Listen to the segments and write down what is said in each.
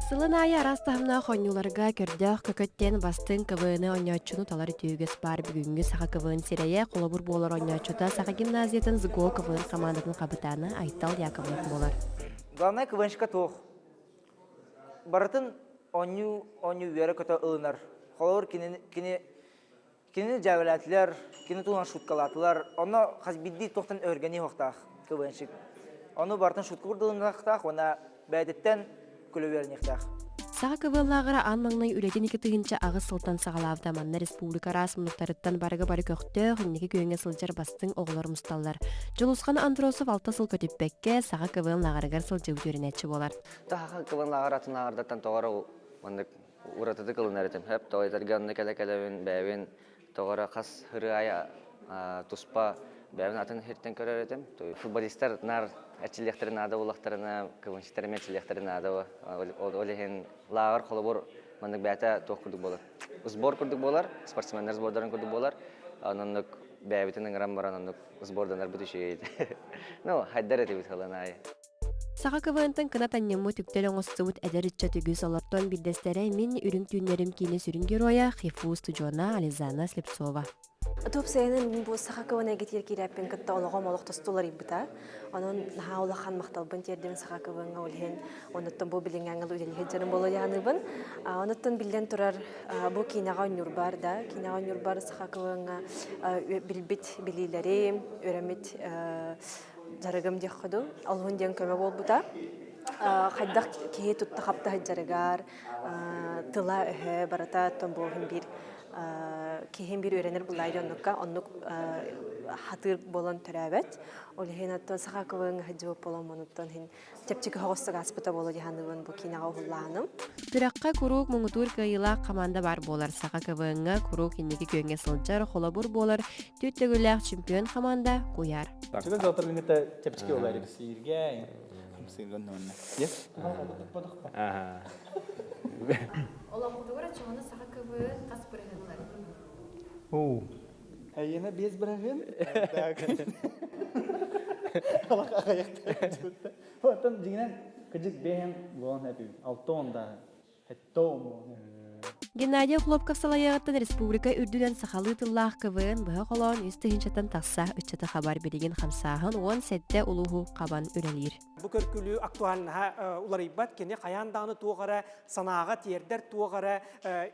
Сылын аайы араас таһымнаах оонньууларга көрдөөх көкөттен бастыҥ КВН оонньооччуну талар үтүөгөс баар бүгүҥҥү саха КВН сирэйэ холобур буолар оонньооччута саха гимназиятын СГО КВН хамаандатын хабытаана Айтал Яковлев буолар. Главное КВНшка туох барытын оонньуу оонньуу үөрэ көтө ылынар. Холобур, кини кини Кини дьээбэлээтилэр, кини туһунан шуткалаатылар. Ону хас биирдии туохтан өргөнүү хохтаах квн-щик. Ону барытын шутка курдылыҥахтаах уонна бэйэтиттэн күлүбүөрүниэхтээх. Саха КВЛ-ааҕара аан маҥнай үлэтин ити тыһыынча аҕыс сылтан саҕалаабыта манна республика араас мунуктарыттан барыга-бары көхтөөх, инники күөҥҥэ сылдьар бастыҥ оҕолор мусталлар. Дьулусхан Андросов алта сыл көтүппэккэ саха КВН-лааҕарыгар сылдьыбыт үөрэнээччи буолар. Таха КВН-лааҕар атын лааҕырдартан тоҕо маннык уратытык ылынар этим. Хөп тоҕойдарга онно кэлэ-кэлэбин, бэйэбин тоҕо эрэ хас ырыайа туспа бэйэбин атын сиртэн көрөр этим. Футболистар наар эрчиллиэхтэрин наада буоллахтарына, кылынчыттар эмиэ эрчиллиэхтэрин наада ол иһин лааҕыр холобур маннык бэйэтэ туох курдук буолар. Сбор курдук буолар, спортсменнар сбордарын курдук буолар. Оннук бэйэбитин ыҥыран баран оннук сборданарбыт үчүгэй. Ну, хайдар этибит ылан аайы. Саха КВН-тан кынат анньыммыт үктэл оҥостубут эдэр ыччат үгүс олортон биирдэстэрэ мин үрүҥ түүннэрим киинэ сүрүн геройа Хифу устудьуона Ализана Слепцова. Туопсайынан бу саха квн эгитигэр киирээппин кытта олоҕом олохтосто уларыйбыта. Онон наһаа улахан махталбын тиэрдим саха квн-га ол иһин онуттан бу билиҥҥи ангыл үлэлиһит дьонум буола дьааныбын. Онуттан биллэн турар бу киинэҕэ оонньуурбар да, киинэҕэ оонньуурбар саха квн-га билбит билиилэри, өрөммүт Жарыгым диэххүдү, олуһун диэн көмө буолбута. Хайдах киһи тутта хапта сыдьарыгар, тыла-өһө барыта томбоһун биир киһин биир үөрэнэр буллай дьоннукка оннук хатыр болон төрөөбөт. Ол иһин оттон саха кылын хадьыып болон монуттан чэпчэки хоҕостук ааспыта буолуо дьаһаныбын бу киинэҕэ уһуллааным. Күрэххэ куруук муҥутуур кыайыылаах команда баар буолар. Саха КВН-га куруук инники күөҥҥэ сылдьар, холобур буолар түөрт төгүллээх чемпион команда куйаар. Чугас дьаатыргыҥҥыта чэпчэки буолар эбит. Сииргэ, хамсыырга оннуонна. Yes? Олохпутугар оччоҕуна саха КВН хас бырыһыылар? Оо, Әйенә без браһын. Алаха хайахта. Оттон дигинен кыдык бэһэн болон эпим. Алты онда. Хэтто омон. Геннадий Хлопков салайаҕыттан республика үрдүнэн сахалыы тыллаах КВН быһа холоон үс тыһынчатан тахса ыччаты хабар билигин хамсааһын уон сэттэ улууһу хабан үлэлиир. Бу көркүлүү актуальнаһа уларыйбат, кини хайаан даҕаны туох эрэ санааҕа тиэрдэр, туох эрэ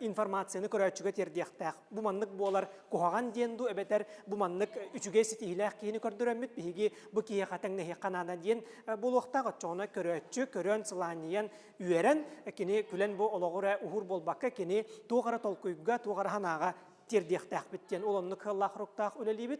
информацияны көрөөччүгэ тиэрдиэхтээх. Бу маннык буолар куһаҕан диэн дуу эбэтэр бу маннык үчүгэй ситиһиилээх киһини көрдөрөммүт биһиги бу киһиэхэ тэҥнэһиэххэ наада диэн буолуохтаах оччоҕуна көрөөччү көрөн сылаанньыйан үөрэн кини күлэн бу олоҕу эрэ уһуур буолбакка кини туох эрэ толкуйга туох эрэ санааҕа тиэрдиэхтээхпит диэн ол оннук кыаллаах-руктаах үлэлиибит